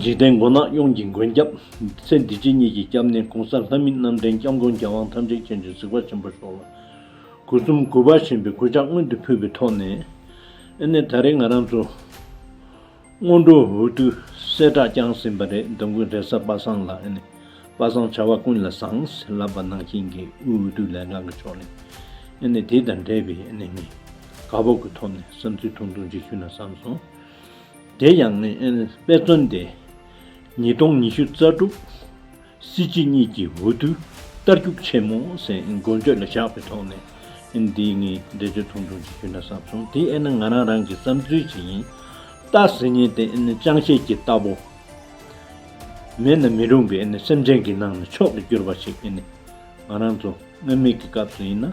འཇིག་རྟེན་མགོ་ནག་གཡུང་གི་མགོན་སྐྱབས། ཚེ་འདི་སྐྱིད་གཉིས་ཀྱི་སྐྱབས་གནས་གོང་ས་ལྷ་མི་རྣམ་འདྲེན་སྐྱབས་མགོན་རྒྱལ་དབང་ཐམས་ཅད་མཁྱེན་གྱི་གཟིགས་པ་ཆེན་པོ་ཤོག། དགུ་གསུམ་དགུ་པ་ཞེན་པའི་སྐུལ་ལྕག་སྔོན་དུ་ཕུད་པའི་ཐོག་ནས། ཨེ་ནས་ད་རེས་ང་རང་ཚོ། སྔོན་འགྲོ་འོས་བསྡུ་གསལ་བསྒྲགས་བསྐྱངས་ཟིན་པ་རེད་འདུག་མགོན་རེ་ས་པ་སངས་ལགས་ཨེ་ནས། པ་སངས་བྱ་བ་ཀུན་ལ་བཟང། ལབ་པ་ནང་བཞིན་གྱི་དབུས་འོས་བསྡུ་ལས་ཁང་གི་ཕྱོགས་ནས། ཨེ་ནས་དེ་དང་འབྲེལ་བའི་ཨེ་ནས་ངས། དགའ་སྤོབས་ཀྱི་ཐོག་ནས་བསམ་ཚུལ་ཐུང་ཐུང་ཅིག་ཞུས་ན་བསམ་སོང། དེ་ཡང་དཔེ་མཚོན་ཏེ། ཉིས་སྟོང་ཉི་ཤུ་རྩ་དྲུག་སྲིད་སྤྱི་གཉིས་ཀྱི་འོས་བསྡུའི་རྟར་རྒྱུག་ཆེན་མོ་ཟེར་མགོ་འགྱོད་ལ་བཞག་པའི་ཐོག་ནས་འདི་ངས་འགྲེལ་བརྗོད་ཐུང་ཐུང་ཅིག་ཞུས་ན་བསམ་སོང་དེ་ཨེ་ན་ང་རང་རང་གི་བསམ་ཚུལ་ཅིག་ཡིན། སྟག་ཟེར་ཉིན་དེ་ཅང་ཤེས་ཀྱི་རྟ་ཕོ་མེད་ན་མི་རུང་བའི་སེམས་ཅན་གྱི་ནང་ནས་མཆོག་ཏུ་གྱུར་པ་ཞིག་ཨེ་ནས་ང་རང་ཚོ་སྔོན་མེད་ཀྱི་སྐབས་སུ་ཡིན་ན་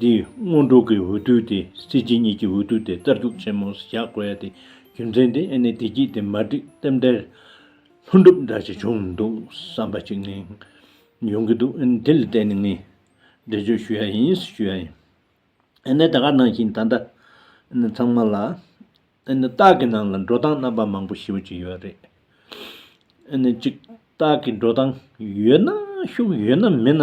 འདིས་སྔོན་འགྲོ་གི་འོས་བསྡུ་དེ་སྲིད་སྤྱི་གཉིས་ཀྱི་འོས་བསྡུ་དེ་རྩར་རྒྱུག་ཆེན་མོ་བཞག་དགོས་ཡ་དེ་རྒྱུ་མཚན་དེ་ཨེ་ནས་བདེ་སྐྱིད་དེ་མ་འགྲིག་སྟབས་འདྲེ་ལྷུན་གྲུབ་འདྲ་ཞིག་བྱུང་འདུག་བསམ་པ་གཅིག་ནི་ཡོང་གི་འདུག་དེ་ལ་བརྟེན་ནས་ངས་འགྲེལ་བརྗོད་ཞུ་ཡ་ཡིན་ཞུ་ཡ་ཡིན། ཨེ་ནས་ད་ག་ནང་བཞིན་ད་ལྟ་ཨེ་ནས་ཚང་མ་ལ་ཨེ་ནས་སྟག་གི་ནང་ལ་འགྲོ་སྟངས་རྣམ་པ་མང་པོ་ཞིག་ཡོད་ཡོད་རེད། ཨེ་ནས་གཅིག་སྟག་གི་འགྲོ་སྟངས་ཡོད་ན་ཤུགས་ཡོད་ན་མེད་ན་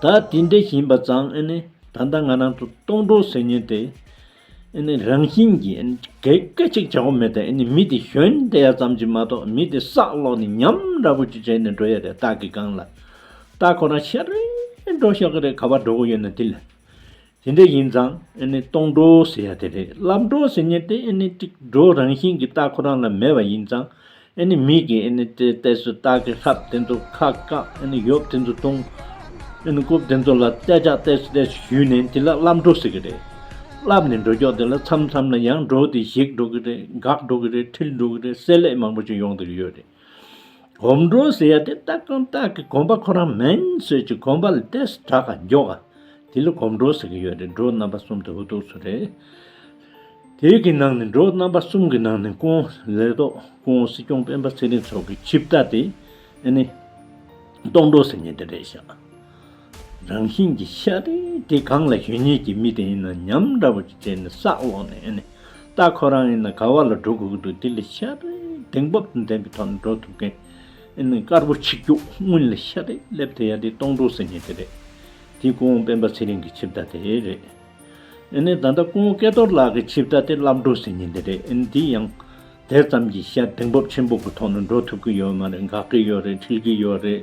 ད་དེ་འདྲ་ཞིན་པ་ཙང་ད་ལྟ་ང་རང་ཚོ་སྟོང་གྲོགས་ཟེར་ཉེན་དེ་རང་བཞིན་གྱི་གད་སྐད་ཅིག་བྱ་གོ་མེད་ད་མི་དེ་གཞོན་དེ་ཡ་ཙམ་གྱི་མ་གཏོགས་མི་དེ་སག་ལོག་ནས་ཉམ་ར་བོ་ཅིག་བྱས་ནས་འགྲོ་ཡ་རེད་སྟག་གི་སྒང་ལ་ད་ཁོ་རང་ཤ་རེ་འགྲོ་ཤག་གི་རེད་ག་བ་འགྲོ་གོ་ཡོད་ན་དེ་ལ་དེ་འདྲ་ཡིན་ཙང་ཨེ་ནི་སྟོང་སྒྲོ་ཟེར་ཡ་དེ་རེད་ལབ་སྒྲོ་ཟེར་ཉེན་ཏེ་ཨེ་ནི་ཏིག་སྒྲོ་རང་བཞིན་གྱི་རྟགས་ཁོ་རང་ལ་མེད་པ་ཡིན་ཙང་ཨེ་ནི་མིག་གིས་ཨེ་ནི་ཏེ་བལྟས་སུ་རྟགས་ཀྱི་ལྷབ་དེ་ཚོ་ཁ་བཀག་ཨེ་ནི་ཡོབ་དེ་ཚོ་བཏུང། ཨེ་ནི་རྐུབ་དེ་ཚོ་ལ་བལྟས་ཅག་བལྟས་སུ་བལྟས་སུ་ཞུས་ནས་དེ་ལ་ལབ་སྒྲོ་ཟེར་གྱི་རེད། ལབ་ནས་སྒྲོ་སྐྱོགས་དེ་ལ་མཚམས་མཚམས་ལ་ཡང་སྒྲོ་དེ་བཞེགས་འགྲོ་གི་རེད་འགག་འགྲོ་གི་རེད་འཁྲིལ་འགྲོ་གི་རེད་བསྲེ་ལྷད་མང་པོ་ཅིག་ཡོང་ཐུབ་ཀྱི་ཡོད་རེད། གོམ་འགྲོ་ཟེར་ཡ་དེ་སྟག་གམ་སྟག་གི་གོམ་པ་ཁོ་རང་མིན་ཟེར་གྱི་གོམ་པ་ལ་ལྟས་སུ་གྲགས་ཀ་མགྱོགས་ཀ་དེ་ལ་གོམ་འགྲོ་ཟེར་གི་ཡོད་རེད་འགྲོ་རྣམ་པ་གསུམ་དེ་ཧུ་ཐུག་སུ་རེད། དེ་གི་ནང་ནས་འགྲོ་རྣམ་པ་གསུམ་གི་ནང་ནས་ཀོང་ལེ་ཏོག་ཀོང་སྲིད་སྐྱོང་སྤེན་པ་ཚེ་རིང་སོགས་ཀྱི་ཆིབས་རྟ་དེ་ཨེ་ནི། སྟོང་འགྲོ་ཟེར་ངེས་དེ་རེད་ཤག། རང་བཞིན་གྱི་ཤ་རེ་དེ་གང་ལ་གཞོན་ཉིད་ཀྱི་མི་དེ་ཡིན་ན་ཉམས་འདྲ་པོ་ཞིག་བྱས་ནས་བསགས་འོང་ནས་ཨེ་ནས་ད་ཁོ་རང་ཡིན་ན་ག་བ་ལ་འགྲོ་དགོས་ཀྱི་འདུག་དེ་ལས་ཤ་རེ་གདེང་དཔབ་ཏུ་འདེམས་པའི་ཐོག་ནས་འགྲོ་ཐུབ་མཁན་ཨེ་ནས་དཀར་པོ་ཆིག་རྒྱུགས་སྔུན་ལ་ཤ་རེ་སླེབས་དེ་ཡ་དེ་སྟོང་འགྲོ་ཟེར་ངེས་དེ་རེད་དེ་སྐུ་འོང་སྤེན་པ་ཚེ་རིང་གི་ཆིབས་རྟ་དེ་རེད་ཨེ་ནས་ད་ལྟ་སྐུ་འོང་སྐལ་རྡོར་ལགས་ཀྱི་ཆིབས་རྟ་དེ་བསླབ་འགྲོ་ཟེར་ངེས་དེ་རེད་ཨེ་ནས་དེ་ཡང་དེ་ཙམ་གྱིས་ཤ་གདེང་དཔབ་ཆེན་པོ་གི་ཐོག་ནས་འགྲོ་ཐུབ་ཀྱི་ཡོད་མ་རེད་འགག་གི་ཡོད་རེད་འཁྲིལ་གྱི་ཡོད་རེད།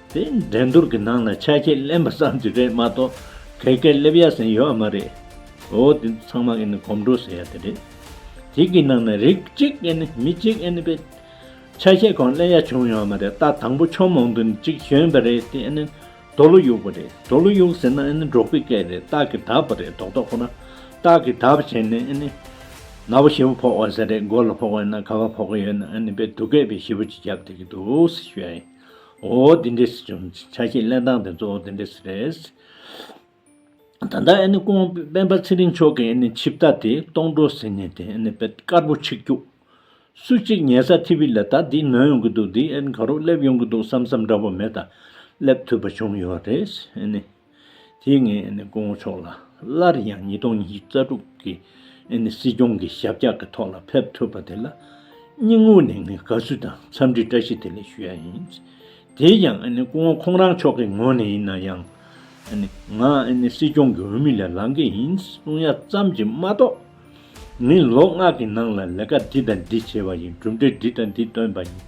དེ་འགྲན་བསྡུར་གྱི་ནང་ལ་ཆ་ཤས་གླེན་པ་ཙམ་གྱི་རེད་མ་གཏོགས་གལ་གལ་སླེབས་ཡ་ཟིན་ཡོད་མ་རེད། འོ་དེ་ཚང་མ་ཨེ་ནི་གོམ་འགྲོས་ཟེར་ཡ་དེ་རེད། དེ་གི་ནང་ན་རིགས་གཅིག་ཨེ་ནི་མི་གཅིག་ཨེ་ནི་པའི། ཆ་ཤས་གང་གླེན་ཡ་བྱུང་ཡོད་མ་རེད་ད་དང་པོ་ཕྱོགས་མང་དུ་ནི་གཅིག་བྱོན་པ་རེད་དེ་ཨེ་ནི་དོ་ལོ་གཡུག་པ་རེད་དོ་ལོ་གཡུག་ཟེར་ན་ཨེ་ནི་འབྲོག་པའི་སྐད་རེད་སྟག་གི་དག་པ་རེད་དོག་དོག་ཁོ་ན་སྟག་གི་དག་པ་བྱས་ནས་ཨེ་ནི། ན་བ་ཞི་བ་ཕོག་བ་ཟེར་རེད་མགོ་ལ་ཕོག་བས་ན་ཁ་བ་ཕོག་གི་ཡོད་ན་ཨེ་ནི་པའི་སྡུག་སྐད་པའི་ཞི་བ་གཅིག་རྒྱབ་དེ་གི་འདུག་ཟེར་ཞུ་ཡ་ཡིན། འོ་འདི་འདྲས་སུ་བྱུང། ཆ་ཤས་གླེང་སྟངས་དེ་ཚོ་འོ་འདི་འདྲས་སུ་རེད། ད་ལྟ་ཨེ་ནི་ཀོང་སྤེན་པ་ཚེ་རིང་མཆོག་གིས་ཨེ་ནི་ཆིབས་རྟ་དེ་སྟོང་འགྲོ་ཟེར་ནས་དེ་ཨེ་ནི་དཔེ་དཀར་པོ་ཆིག་རྒྱུགས། སུ་གཅིག་ཉལ་ས་ཐི་བི་ལ་ད་འདི་ནོན་ཡོང་གི་འདུག་འདི་ཨེ་ནི་ག་རོགས་སླེབས་ཡོང་གི་འདུག་བསམ་བསམ་འདྲ་བོ་མེད་ད་སླེབས་ཐུབ་པ་བྱུང་ཡོད་རེད་ཨེ་ནི། དེ་ངས་དགོངས་ཆོག་ལ་སླར་ཡང་ཉིས་སྟོང་ཉིས་བརྒྱ་རྩ་དྲུག་གི་སྲིད་སྐྱོང་གི་ཞབས་བཀྱག་གི་ཐོག་ལ་ཕེབས་ཐུབ་པ་དེ་ལ་སྙིང་དབུས་ནས་ངས་དགའ་བསུ་དང་འཚམས་འདྲི་བཀྲ་ཤིས་བདེ་ལེགས་ཞུ་ཡ་ཡིན། དེ་ཡང་སྐུ་ངོ་ཁོང་རང་མཆོག་གི་ངོས་ནས་ཡིན་ན་ཡང། ང་སྲིད་སྐྱོང་གི་འོས་མི་ལས་ལངས་ཀྱི་ཡིན་གསུང་ཡ་ཙམ་གྱིས་མ་གཏོགས། ནི་ལོ་ལྔ་གི་ནང་ལ་ལས་ཀ་འདི་དང་འདི་བྱས་པ་ཡིན་གྲུབ་འབྲས་འདི་དང་འདི་བཏོན་པ་ཡིན།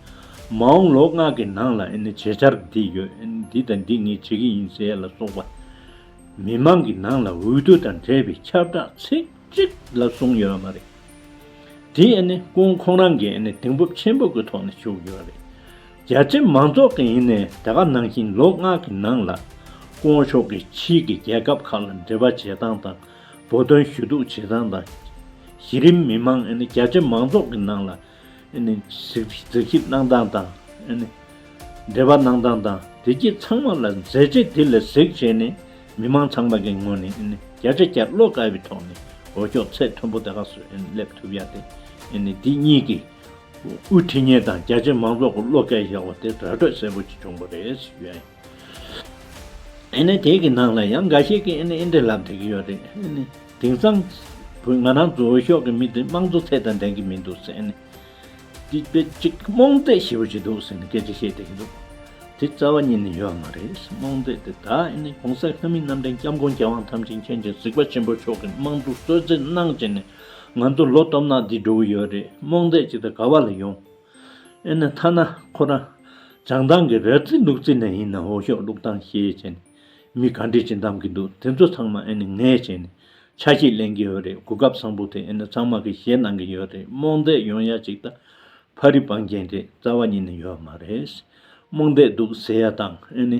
མ་འོངས་ལོ་ལྔ་གི་ནང་ལ་བྱེད་འཆར་འདི་ཡོད་འདི་དང་འདི་ངས་བྱེད་ཀྱི་ཡིན་ཟེར་ལ་སོགས་པ། མི་དམངས་ཀྱི་ནང་ལ་འོས་བསྡུ་དང་འབྲེལ་བའི་ཁྱབ་བསྒྲགས་ཚིག་གཅིག་ལ་བཟུང་ཡོད་པ་མ་རེད། དེ་ཀུན་ཁོང་རང་གི་གདེང་སྤོབས་ཆེན་པོ་གི་ཐོག་ནས་བཞུགས་ཡོད་པ་རེད། རྒྱ་ཆེ་མང་ཚོགས་ཀྱི་ཡིན་ནའི་དེ་ག་ནང་བཞིན་ལོ་ལྔ་གི་ནང་ལ་ཀོང་ཕྱོགས་ཀྱི་ཕྱིའི་གི་རྒྱལ་ཁབ་ཁག་ལ་འབྲེལ་བ་བྱེད་སྟངས་དང། བོད་དོན་ཞུ་གཏུག་བྱེད་སྟངས་དང། གཞི་རིམ་མི་མང་རྒྱ་ཆེ་མང་ཚོགས་ཀྱི་ནང་ལ་གཟིགས་ཞིབ་གནང་སྟངས་དང། འབྲེལ་བ་གནང་སྟངས་དང་བདེ་སྐྱིད་ཚང་མ་ལ་མཛད་རྗེས་དེ་ལས་གཟིགས་བྱས་ནས་མི་མང་ཚང་མ་གི་ངོས་ནས་རྒྱ་ཆེ་རྒྱ་བློ་དཀར་བའི་ཐོག་ནས་འོས་ཤོག་ཚད་མཐོན་པོ་དེ་ག་སུ་སླེབས་ཐུབ་ཡ་དེ་འདི་གཉིས་ཀྱི་དབུས་འཐུས་མཉེ་དང་རྒྱ་ཆེ་མང་ཚོགས་ཀྱི་བློ་སྐལ་བཞག་པ་དེ་ར་སྤྲོད་གསལ་པོ་ཅིག་བྱུང་པ་རེད། ཨེ་ནི་དེ་གི་ནང་ལ་ཡང་འགའ་ཞིག་གིས་ཨེ་ནི་ཨེ་འདྲའི་ལབ་དེ་གི་ཡོད་རེད་ཨེ་ནི། དེང་སང། བོད་ང་རང་ཚོའོ་ཤོག་གི་མི་དེ་དམངས་གཙོ་ཚད་དང་ལྡན་གི་མི་འདུག་ཟེར་ཨེ་ནི། དེ་དཔེ་ཅིག་རྨོངས་དད་ཞེ་བོ་ཞིག་འདུག་ཟེར་ནི་སྐད་ཆ་བཤད་དེ་གི་འདུག། དེ་རྩ་བ་ཉིད་ནི་ཡོད་མ་རེད་རྨོངས་དད་དེ་དག་ཨེ་ནི་གོང་ས་ལྷ་མི་རྣམས་འདྲའི་སྐྱབས་མགོན་རྒྱལ་དབང་ཐམས་ཅད་མཁྱེན་ཅིང་གཟིགས་པ་ཆེན་པོ་མཆོག་གི་དམངས་གཙོ་གསོལ་ཚིགས་གནང་བྱས་ནས་ང་ཚོ་ལོ་སྟོབས་ནག་འདི་འགྲོ་གི་ཡོད་རེད་རྨོངས་དད་ཅིག་དང་ག་བ་ལ་ཡོང། ཨེ་ན་ཐ་ན་ཁོ་རང་བྱང་ཐང་གི་རལ་རྩེད་ལུག་རྩེད་ནས་ཡིན་ན་འོ་ཞོག་ལུག་ཐང་ཞེས་བྱས་ནས་མི་ག་འདྲས་ཀྱིས་འདམས་ཀྱི་འདུག་དེ་ཚོ་ཚང་མ་ཨེ་ནི་ངས་བྱས་ནས་ཆ་ཤས་གླེང་གི་ཡོད་རེད་གོ་སྐབས་བཟང་པོ་དེ་ཨེ་ནི་ཚང་མ་གིས་བཞེས་གནང་གི་ཡོད་རེད་རྨོངས་དད་ཡོང་ཡ་ཅིག་ད་ཕ་རི་བང་རྒྱན་དེ་རྩ་བ་ཉིད་ནས་ཡོད་མ་རེད་རྨོངས་དད་འདུག་ཟེར་ཡ་དང་ཨེ་ནི།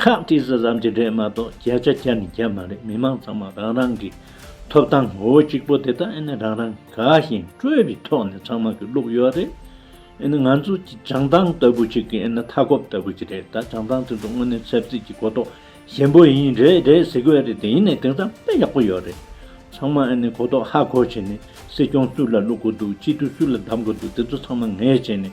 ཁག་བཀྲིས་ཟེར་བསམ་གྱི་རེད་མ་གཏོགས་རྒྱ་ཆ་རྒྱ་ནི་རྒྱ་མ་རེད་མི་མང་ཚང་མ་རང་རང་གི་ཐོབ་ཐང་ངོ་བོ་གཅིག་པོ་དེ་དག་ཨེ་ནས་རང་རང་ག་ཞིང་སྤྲོས་པའི་ཐོག་ནས་ཚང་མ་གི་བླུགས་ཡོད་རེད་ཨེ་ནས་ང་ཚོ་གི་བྱང་ཐང་ལྟ་བུ་ཅིག་གི་ཨེ་ནས་མཐའ་འཁོབ་ལྟ་བུ་ཅིག་རེད་ད་བྱང་ཐང་དེ་ཚོ་དངོས་གནས་ཚབ་རྩིས་ཀྱི་གོ་རྟོགས་ཞན་པོ་ཡིན་རེད་རེད་ཟེར་གི་རེད་དེ་ཡིན་ནས་དེང་སང་དཔེ་ཡག་པོ་ཡོད་རེད་ཚང་མ་ཨེ་ནས་གོ་རྟོགས་ཧ་གོ་བྱས་ནས་སྲིད་སྐྱོང་སུ་ལ་བླུགས་གི་འདུག་སྤྱི་འཐུས་སུ་ལ་བདམས་གི་འདུག་དེ་ཚོ་ཚང་མ་ངས་བྱས་ནས་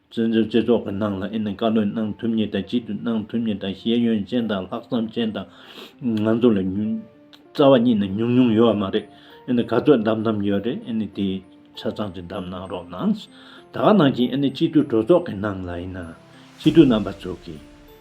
བཙན་བྱོལ་སྤྱི་ཚོགས་ཀྱི་ནང་ལ་ཨེ་ནི་བཀའ་བློན་གནང་ཐུབ་མྱེད་དང་སྤྱི་འཐུས་གནང་ཐུབ་མྱེད་དང་ཤེས་ཡོན་ཅན་དང་ལྷག་བསམ་ཅན་དང། ང་ཚོ་ལས་ཉུང། རྩ་བ་ཉིད་ནས་ཉུང་ཉུང་ཡོད་བ་མ་རེད། ཨེ་ནི་ག་ཚོད་གདམ་གདམ་ཡོད་རེད་ཨེ་ནི་དེ། ཆ་ཚང་གྱི་གདམ་གནང་རོགས་གནང། ད་ག་ནང་བཞིན་ཨེ་ནི་སྤྱི་འཐུས་གྲོས་ཚོགས་ཀྱི་ནང་ལ་ཡིན་ན། སྤྱི་འཐུས་རྣམ་པ་ཚོ་གིས།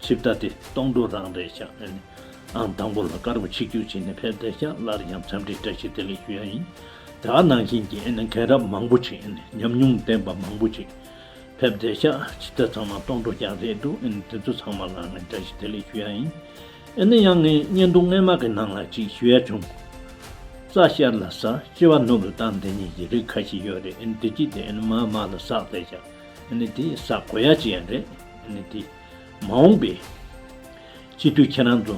ཆིབས་རྟ་དེ་སྟོང་འགྲོ་རང་རེད་ཤག་ཨེ་ནི་ཨང་དང་པོ་ལ་དཀར་པོ་ཆིག་རྒྱུག་བྱེད་ནས་ཕེབས་བསྡད་ཤག་སླར་ཡང་འཚམས་འདྲི་བཀྲ་ཤིས་བདེ་ལེགས་ཞུ་ཡ་ཡིན་དེ་ཨ་ནང་བཞིན་གྱི་ཨེ་ནི་མཁན་རབས་མང་པོ་ཆིག་ཨེ་ནི་ཉམས་མྱོང་ལྡན་པ་མང་པོ་ཆིག་ཕེབས་བསྡད་ཤག་ཆིབས་རྟ་ཚང་མ་སྟོང་འགྲོ་ཤག་རེད་འདུག་ཨེ་ནི་དེ་ཚོ་ཚང་མ་ལ་ངས་བཀྲ་ཤིས་བདེ་ལེགས་ཞུ་ཡ་ཡིན་ཨེ་ནི་ཡང་ངས་བརྙན་ཐུང་རྔན་མ་གི་ནང་ལ་ཅིག་ཞུ་ཡ་བྱུང་རྩ་ཤེར་ལ་ཟག་སྐྱེ་བ་ནོར་བུ་དང་འདི་གཉིས་ཀྱི་རིགས་ཁ་ཤི་ཡོད་རེད་ཨེ་ནི་དེ་གཅིག་དེ་ཨེ་ནི་མ་མ་ལ་ཟག་བསྡད་ཤག་ཨེ་ནི་དེ་ཟག་གོ་ཡ་ཅི་ཡ་རེད་ཨེ་ནི་དེ། མ་འོངས་པའི་སྤྱི་འཐུས་ཁྱེད་རང་ཚོ་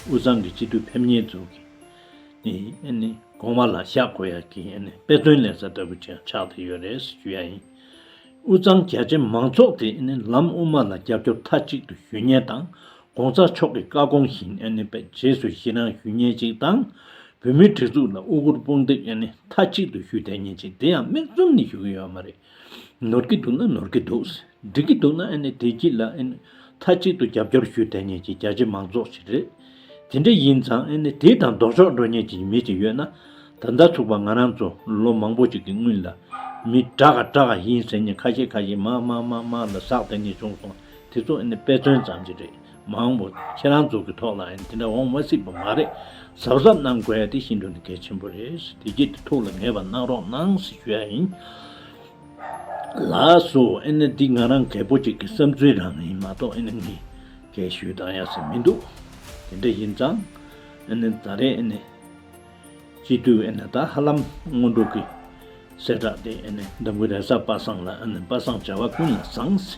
དབུས་གཙང་གི་སྤྱི་འཐུས་ཕེབས་ཉེས་འཛུགས་ཀྱི་དགོངས་པ་ལ་བཞག་དགོས་ཡ་གི་དཔེ་སྟོན་ལས་ས་ལྟ་བུ་ཆགས་ཐུག་ཡོད་རེད་ཟེར་རྒྱུ་ཡ་ཡིན། དབུས་གཙང་རྒྱ་ཆེ་མང་ཚོགས་དེ་ལམ་དབུ་མ་ལ་རྒྱབ་སྐྱོར་མཐའ་གཅིག་ཏུ་ཞུ་ཉེན་དང་གོང་ས་མཆོག་གི་བཀའ་དགོངས་བཞིན་རྗེས་སུ་ཡི་རང་ཞུ་ཉེན་ཅིག་དང། བོད་མིའི་སྒྲིག་འཛུགས་ལ་དབུ་གུར་དཔུང་འདེགས་མཐའ་གཅིག་ཏུ་ཞུ་དད་ཉེན་ཅིག་དེ་ཡང་མིག་བཙུམ་ནས་ཞུ་གི་ཡོད་མ་རེད། ནོར་གྱི་འདུག་ན་ནོར་གྱི་འདུག་འགྲིག་གི་འདུག་ན་ཨེ་ནས་བདེ་སྐྱིད་ལ་ཨེ་ནས་མཐའ་གཅིག་ཏུ་རྒྱབ་སྐྱོར་ཞུས་བསྡད་ཉན་གྱི་རྒྱ་ཆེ་མང་ཙོགས་ཤིག་རེད། དེ་འདྲ་ཡིན་ཙང་ཨེ་ནས་དེ་དང་ལྡོག་ཕྱོགས་འགྲོ་ཉན་གྱི་མི་ཅིག་ཡོད་ན། ད་ཟླ་ཚུགས་པ་ང་རང་ཚོ་ལོ་མང་པོ་ཅིག་གི་སྔུན་ལ། མི་དྲག་ག་དྲག་ག་ཡིན་ཟེར་ཉན་ཁ་ཤས་ཁ་ཤས་མ་མ་མ་མ་ལ་ཟགས་བསྡད་ངེས་བྱུང་སོང་དེ་ཚོ་ཨེ་ནས་དཔེ་མཚོན་ཙམ་གྱི་རེད། མ་འོངས་པ་ཁྱེད་རང་ཚོ་གི་ཐོག་ལ་ཡང་དེ་འདྲ་འོང་མ་སྲིད་པ་མ་རེད་གཟབ་གཟབ་གནང་དགོས་ཡ་དེ་ཤིན་ཏུ་ནས་གལ་ཆེན་པོ་རེད་བསུ་བདེ་སྐྱིད་དུ་ཐུགས་ལ་ངེས་པ་གནང་རོགས་གནང་ཟེར་ཞུ་ཡ་ཡིན། ལགས་སོ་ཨེ་ནི་འདི་ང་རང་གལ་པོ་ཅིག་གི་བསམ་ཚུལ་རང་ཡིན་མ་གཏོགས་ཨེ་ནི་ངས་གལ་ཞུས་དང་ཡ་ཟེར་མི་འདུག་དེ་འདྲ་ཡིན་ཙང་ཨེ་ནི་ད་རེས་ཨེ་ནི། སྤྱི་འཐུས་ཨེ་ནས་ད་ཧ་ལམ་སྔོན་འགྲོ་གི། གསལ་བསྒྲགས་དེ་ཨེ་ནས་འདམ་བུའི་རས་གཟར་པ་སངས་ལ་ཨེ་ནས་པ་སངས་བྱ་བ་ཀུན་ལ་བཟང། འོས་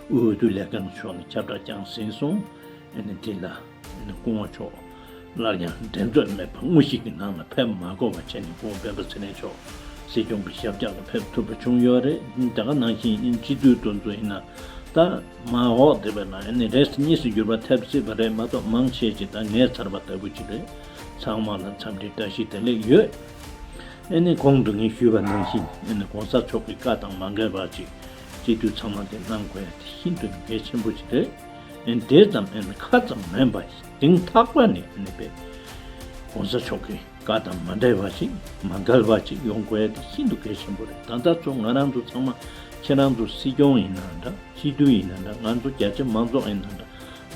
བསྡུ་ལས་ཁང་གི་ཕྱོགས་ནས་ཁྱབ་བསྒྲགས་བསྐྱངས་ཟིན་སོང་ཨེ་ནས་དེ་ལ་ཨེ་ནས་སྐུ་ངོ་མཆོག་སླར་ཡང་འགྲན་རྩོད་མེད་པར་དངོས་གཞི་གི་ནང་ལ་ཕེབས་མ་དགོས་པ་བྱས་ནས་ཁོང་སྤེན་པ་ཚེ་རིང་མཆོག་སྲིད་སྐྱོང་གི་ཞབས་བཀྱག་ལ་ཕེབས་ཐུབ་པ་བྱུང་ཡོད་རེད་ད་ག་ནང་བཞིན་ཨེ་ནས་སྤྱི་འཐུས་དོན་གཙོ་ཡིན་ན་ད་མ་འོག་དེ་བས་ན་ཨེ་ནས་རེས་གཉིས་སུ་འགྱུར་བ་ཐེབས་སྲིད་པ་རེད་མ་གཏོགས་མང་ཆེས་ཀྱི་ད་ངའི་ཚར་བ་ལྟ་བུ་ཅིག་རེད། ཚང་མ་ལ་འཚམས་འདྲི་བཀྲ་ཤིས་བདེ་ལེགས་ཡོད། ཨེ་ནས་གོང་དུ་ངས་ཞུས་པ་ནང་བཞིན་ཨེ་ནས་གོང་ས་མཆོག་གི་བཀའ་དང་མ་འགལ་བར་གྱི་སྤྱི་འཐུས་ཚང་མ་དེ་གནང་དགོས་དེ་ཤིན་ཏུ་གལ་ཆེན་པོ་ཞིག་རེད། ཨེ་དེ་ཙམ་ཨེ་ནས་ཁ་ཙམ་མིན་པ་ཞིང་ཐག་པ་ནས་ཨེ་ནས་པའི་གོང་ས་མཆོག་གི་བཀའ་དང་མ་འབྲེལ་བ་ཞིག་མ་འགལ་བ་ཞིག་ཡོང་དགོས་དེ་ཤིན་ཏུ་གལ་ཆེན་པོ་རེད་ད་ལྟ་ཚོ་ང་རང་ཚོ་ཚང་མ་ཁྱེད་རང་ཚོ་སྲིད་སྐྱོང་ཡིན་ན་འདྲ་སྤྱི་འཐུས་ཡིན་ན་འདྲ་ང་ཚོ་རྒྱ་ཆེ་མང་ཚོགས་ཡིན་ན་འདྲ།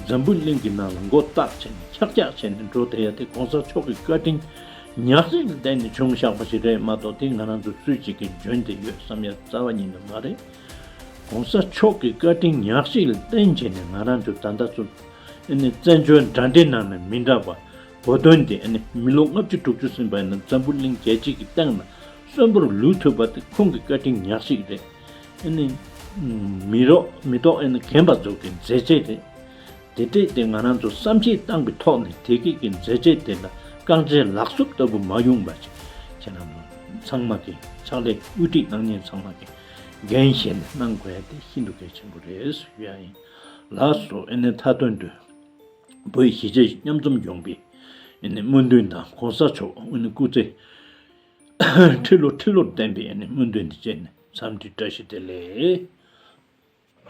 འཛམ་བུ་གླིང་གི་ནང་ལ་མགོ་བཏགས་བྱས་ནས་ཁྱག་ཁྱག་བྱས་ནས་འགྲོ་བསྡད་ཡ་དེ་གོང་ས་མཆོག་གི་བཀའ་དྲིན་ཉག་གཅིག་ལ་བསྡད་ནས་བྱུང་བཞག་པ་ཞིག་རེད་མ་གཏོགས་དེ་ང་རང་ཚོ་སུས་གཅིག་གིས་འཇོན་བསྡད་ཡོད་བསམ་ཡ་རྩ་བ་ཉིད་ནས་མ་རེད། གོང་ས་མཆོག་གི་བཀའ་དྲིན་ཉག་གཅིག་ལ་བརྟེན་བྱས་ནས་ང་རང་ཚོ་ད་ལྟ་ཚོ་ཨེ་ནི་བཙན་བྱོལ་འདྲ་འདྲའི་ནང་ན་མི་འདྲ་བ་བོ་དོན་དེ་ཨེ་ནི་མི་ལོ་ལྔ་བཅུ་དྲུག་ཅུ་ཟིན་པ་ཡིན་ན་འཛམ་བུ་གླིང་རྒྱལ་སྤྱི་གི་སྟེང་ན་གསོན་པོར་ལུས་ཐུབ་པ་དེ་ཁོང་གི་བཀའ་དྲིན་ཉག་གཅིག་རེད། ཨེ་ནི། མི་རོགས་མི་ལྟོགས་ཨེ་ནི་གན་པ་རྫོགས་ཀྱི་མཛད་རྗེས་དེ། དེ་སྟེ་དེ་ང་རང་ཚོ་བསམ་གཞིག་བཏང་པའི་ཐོག་ནས་དེ་སྐད་ཀྱི་མཛད་རྗེས་དེ་ལ་རྐང་རྗེས་ལག་སུབ་ལྟ་བུ་མ་ཡོང་པ་ཅིག་ཁྱེད་རང་ཚོ་ཚང་མ་གིས་ཕྱག་ལས་དབུ་ཁྲིད་གནང་མཁན་ཚང་མ་གིས་འགན་བཞེས་ནས་གནང་དགོས་ཡ་དེ་ཤིན་ཏུ་གལ་ཆེན་པོ་རེད་ཟེར་རྒྱུ་ཡང་ཡིན། ལགས་སོ་ཨེ་ནི་མཐའ་དོན་དུ། བོད་གཞིས་བྱེས་མཉམ་འཛོམས་ཡོང་པའི་ཨེ་ནི་སྨོན་འདུན་དང་གོང་ས་མཆོག་ཨེ་ནི་སྐུ་ཚེ། ཁྲི་ལོ་ཁྲི་ལོར་བསྟན་པའི་སྔོན་དོན་འདི་བཅས་ནི་མཚམས་འདྲི་བཀྲ་ཤིས་བདེ་ལེགས།